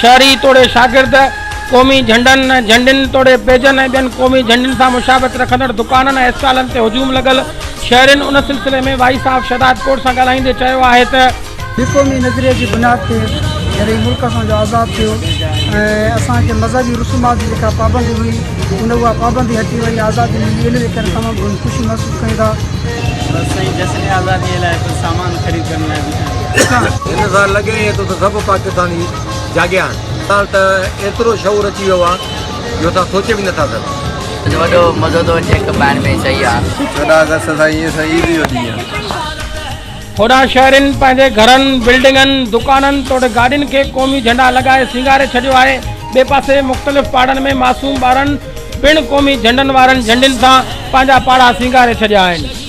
شهري توڙي شاگرد قومي جهنڊن، جهنڊين توڙي پيجن ۽ ٻين قومي جهنڊين سان مشابهت رکندڙ دڪانن ۽ اسٽالن تي هجوم لڳل، شهرين ان سلسلي ۾ وائيس آف شهداد ڪوٽ سان ڳالهائيندي چيو آهي ته. ٻي قومي نظرئي جي بنياد تي جڏهن ملڪ اسان جو آزاد ٿيو ۽ اسان کي مذهبي رسومات جي جيڪا پابندي هئي ان اها پابندي هٽي وئي آزادي ملي ان جي ڪري تمام گهڻي خوشي محسوس ڪيون ٿا. هن سان لڳي ائين ٿو ته سڀ پاڪستاني جاڳيا آهن. هاڻ ته ايترو شعور اچي ويو آهي جو اسان سوچي به نٿا سگهون. اڄ وڏو مزو ٿو اچي ڪپائڻ ۾ سهي آ. چوڏهن آگسٽ سائين ايئن سائين عيد جو ڏينهن آ. هوڏانهن شهرين پنهنجي گهرن، بلڊنگن، دڪانن توڙي گاڏين کي قومي جهنڊا لڳائي سينگاري ڇڏيو آهي. ٻئي پاسي مختلف پاڙن ۾ معصوم ٻارن پڻ قومي جهنڊن وارن جهنڊين سان پنهنجا پاڙا سينگاري ڇڏيا آهن.